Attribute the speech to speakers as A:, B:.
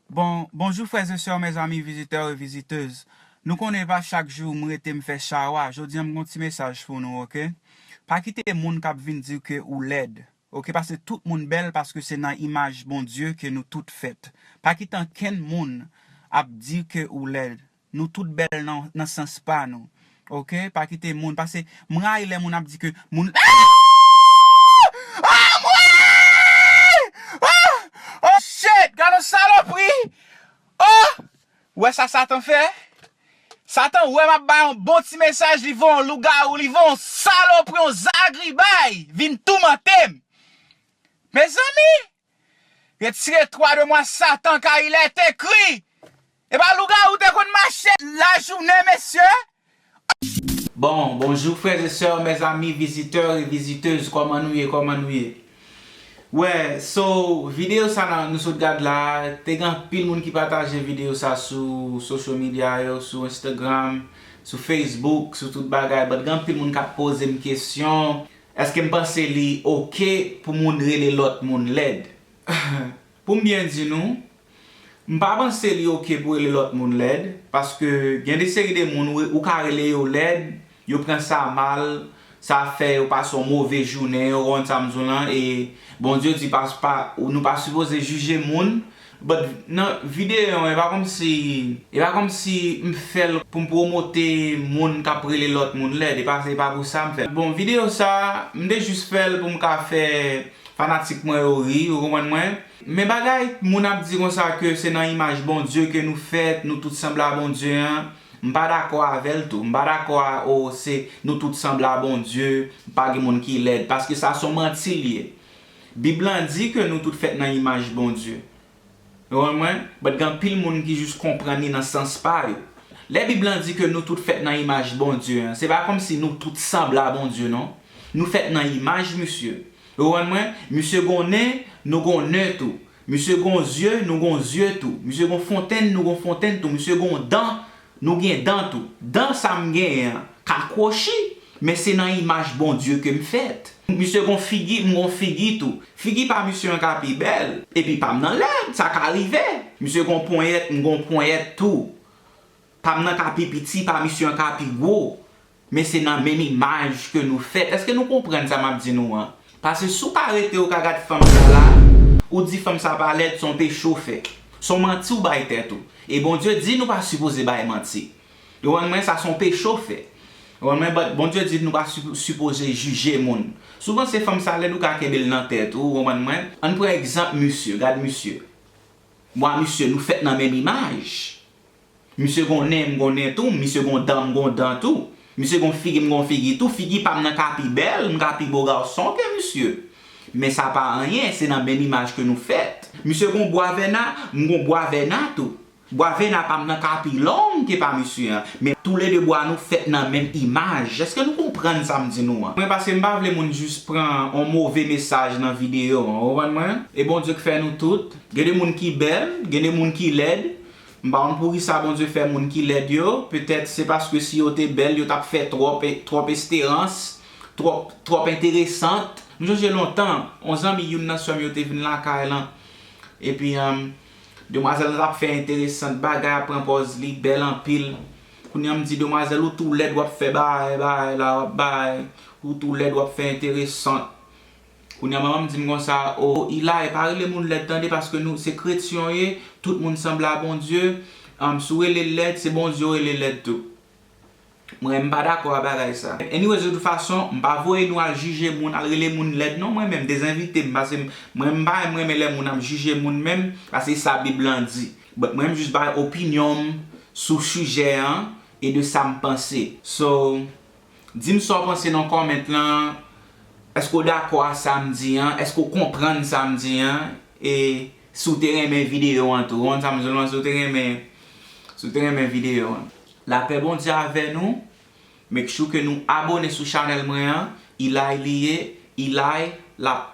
A: Bon, bonjou frères et sœurs mes amis visiteurs et visiteuses Nou konnen e pa chak jou m rete m fè chawa jodi an m gon ti mesaj pou nou ok pa kite moun kap vin diw ke ou lèd ok paske tout moun bèl paske se nan imaj Bondye ke nou tout fèt pa kite ankenn moun ap diw ke ou lèd Nou tout bèl nan nan sans pa nou ok pa kite moun pase m rayi lè moun ap di ke moun aah aah anmweyy aah oh shit gad yon salopri oh ou wè sa satan fè satan wè map bay yon bon ti mesaj li voye yon lougarou li voye yon salopri yon zagribay vin toumantem mezanmi Retire twa de mwa satan kay lè te kri epa lougarou te konn mache lajounen mesye. Bon bonjou frères et sœurs mes amis visiteurs et visiteuses kòman nou ye kòman nou ye wè so video sa nan nou sot gad la te gen anpil moun ki pataje video sa sou social media yo sou instagram sou facebook sou tout bagay but gen anpil moun kap pozem kesyon Eske m panse li ok pou moun rele lòt moun lèd? Pou m byen di nou, m pa panse li ok pou rele lòt moun lèd, paske gen de seri de moun ou ka rele yo lèd, yo pran sa mal, sa fè yo pase yon move jounen, ou konprann sa m di w lan, e Bondye di nou pa sipoze jije moun, But nan videyo an e pa kòmsi e pa kòmsi m fèl pou m promote moun kap rele lòt moun lèd e pa se pa pou sa m fèl bon videyo sa m te jis fèl pou m ka fè fanatik mwen yo ri ou konprann mwen men bagay moun ap di konsa ke se nan imaj Bondye ke nou fèt nou tout sanble a Bondye an m pa dakò avèl tou m pa dakò a oh se nou tout sanble a Bondye pa gen moun ki lèd paske sa son manti l ye Bib lan di ke nou tout fèt nan imaj Bondye. Nou konprann mwen? But gen anpil moun ki jis konprann li nan sans pa yo. Lè Bib lan di ke nou tout fèt nan imaj Bondye an, se pa kòmsi nou tout sanble a Bondye non. Nou fèt nan imaj Misye. Ou konprann mwen? Misye gon nen, nou gon nen tou. Misye gon zye, nou gon zye tou. Misye gon fontenn, nou gon fontenn tou. Misye gon dan, nou gen dan tou. Dan sa m genyen an ka kwochi, men se nan imaj Bondye ke m fèt. Misye gon figi, m gon figi tou. Figi pa misye an ka pi bèl, epi pa m nan lèd, sa ka rive. Misye gon ponyèt, m gon ponyèt tou. Pa m nan ka pi piti, pa misye an ka pi gwo. Men se nan menm imaj ke nou fèt. Eske nou konprann sa map di nou an? Pase si w pa rete ou ka gad fanm sa la, ou di fanm sa pa lèd, son peche w fè. Son manti w bay tèt ou. E Bondye di nou pa sipoze bay manti. Ou konprann mwen? Sa son peche w fè. Ou konprann mwen? But Bondye di nou pa sipoze jije moun. Si w panse fanm sa lèd ou ka kenbe l nan tèt ou, ou konprann mwen? Ann pran egzanp misye, gad misye. Mwa misye, nou fèt nan menm imaj. Misye gon nen, m gon nen tou, misye gon dan, m gon dan tou, misye gon figi, m gon figi tou, figi pa m nan ka pi bèl, m ka pi bo garson ke misye. Men sa pa anyen, se nan menm imaj ke nou fèt. Misye gon bwa vèna, m gon bwa vèna tou. Bwa vèna pa m nan ka pi long ke pa misye an, men tou le 2 bwa nou fèt nan menm imaj. Eske nou konprann sa m di nou an? Mwen pase m pa vle moun jis pran on move mesaj nan videyo an, ou konprann mwen? E Bondye k fè nou tout. Gen de moun ki bèl, gen de moun ki lèd, M pa konn poukisa Bondye fè moun ki lèd yo, petèt se paske si yo te bèl yo t ap fè twòp, twòp esterans, twòp, twòp enteresant. M sonje lontan, on zanmi youn nan sè m yo te vin lakay lan, epi demwazèl lan t ap fè enteresant, bagay ap pran pòz li bèl anpil, kounye a m di, demwazèl ou tou lèd w ap fè bagay, bagay la, w ap bagay, ou tou lèd w ap fè enteresant. Kounya manmanm dim konsa oh Eli pa rele moun lèd tande paske nou se kretyen w ye tout moun sanble a Bondye humm si w rele l lèd se Bondye w rele lèd tou mwen m pa dakò a bagay sa anyways de tout fason m pa voye nou al jije moun al rele moun lèd non mwen menm dezenvite m pase mwen m pa menm renmen lè moun ap jije moun menm paske se sa bib lan di but mwen m jis bay opinyon m sou sijè an e de sa m panse so. Dim sa w panse nan comment lan, èske w dakò a sa m di an, èske w konprann sa m di an, e si w te renmen video an tou, ou konn sa m di w lan, si w te renmen, si w te renmen video an. Lapè Bondye avè nou, make sure ke nou abone sou chanèl mwen an, Eli li ye, Eli lap